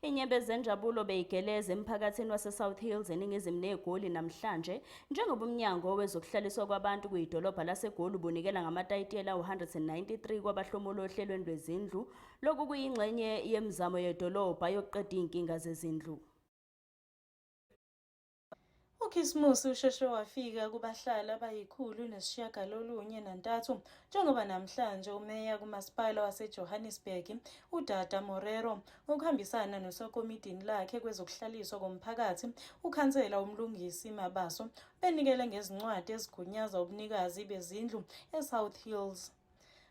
Inyembe zenjabulo beyigeleza emphakathini waseSouth Hills eningizimu neGoli namhlanje njengoba umnyango wezokuhlaliswa kwabantu kuyidolobha laseGoli ubunikela ngamatayitela u-193 kwabahlomula ohlelweni lwezindlu. Lokhu kuyingxenye yemizamo yedolobha yokuqeda izinkinga zezindlu. UKhisimusi usheshe wafika kubahlali abayikhulu nesishiyagalolunye nantathu njengoba namhlanje umeya kumasipala waseJohannesburg uDada Morero ngokuhambisana nosokomitini lakhe kwezokuhlaliswa komphakathi ukhansela uMlungisi Mabaso benikele ngezincwadi ezigunyaza ubunikazi bezindlu eSouth Hills.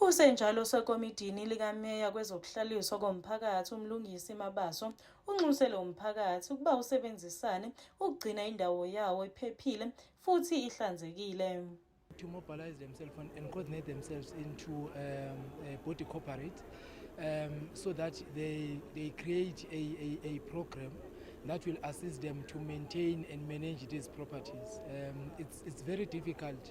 Usenjalo osekomidini likameya kwezokuhlaliswa komphakathi uMlungisi Mabaso unxuse lo mphakathi ukuba usebenzisane ukugcina indawo yawo iphephile futhi ihlanzekile. to mobilize themselves and, and coordinate themselves into um, a body corporate um, so that they, they create a, a, a program that will assist them to maintain and manage these properties. Um, it's, it's very difficult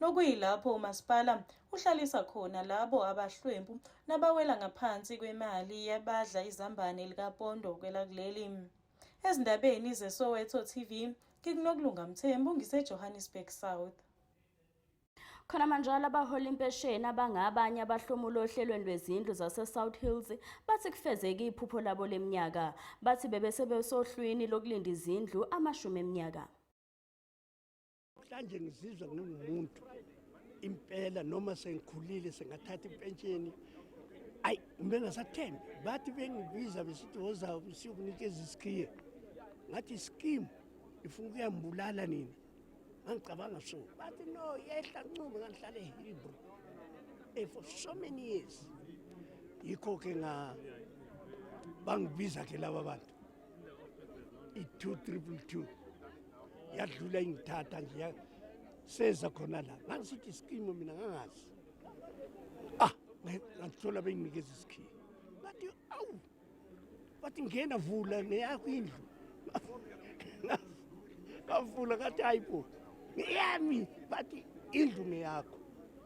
nokuyilapho umasipala uhlalisa khona labo abahlwempu nabawela ngaphansi kwemali yabadla izambane likapondo kwelakuleli ezindabeni zesoweto tv ngikunokulunga mthembu ngisejohannesburg south khona manjalo abahola impesheni abangabanye abahlomula ohlelweni lwezindlu zase-south hills bathi kufezeke iphupho labo leminyaka bathi bebesebesohlwini lokulinda izindlu amashumi eminyaka Mhlanje ngizizwa ngingumuntu impela noma sengikhulile sengathatha impentsheni ayi kumbe ngasathembi bathi bengibiza besithi woza siyokunikeza isikhiye ngathi iskim ifuna ukuyambulala nina ngangicabanga so bathi no yehla ncube ngangihlale ehilbro e eh, for so many years yikho-ke bangibiza-ke laba bantu i-two triple two yadlula ingithatha nje seza khona la ngangisithi isikimo mina ngangazi ah ngangithola benginikeza isikhiye bathi awu bathi ngena vula neyakho indlu ngavula ngathi hayi bo ngeyami bathi indlu ngeyakho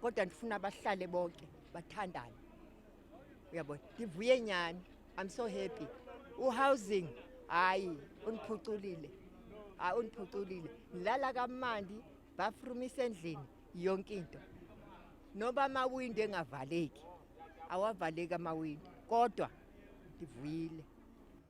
kodwa ndifuna abahlale bonke bathandane uyabona ngivuye nyani i'm so happy uhousing hayi undiphuculile hayi undiphuculile ngilala kamandi bathroom isendlini yonke into noba amawindi engavaleki awavaleki amawindi kodwa ndivuyile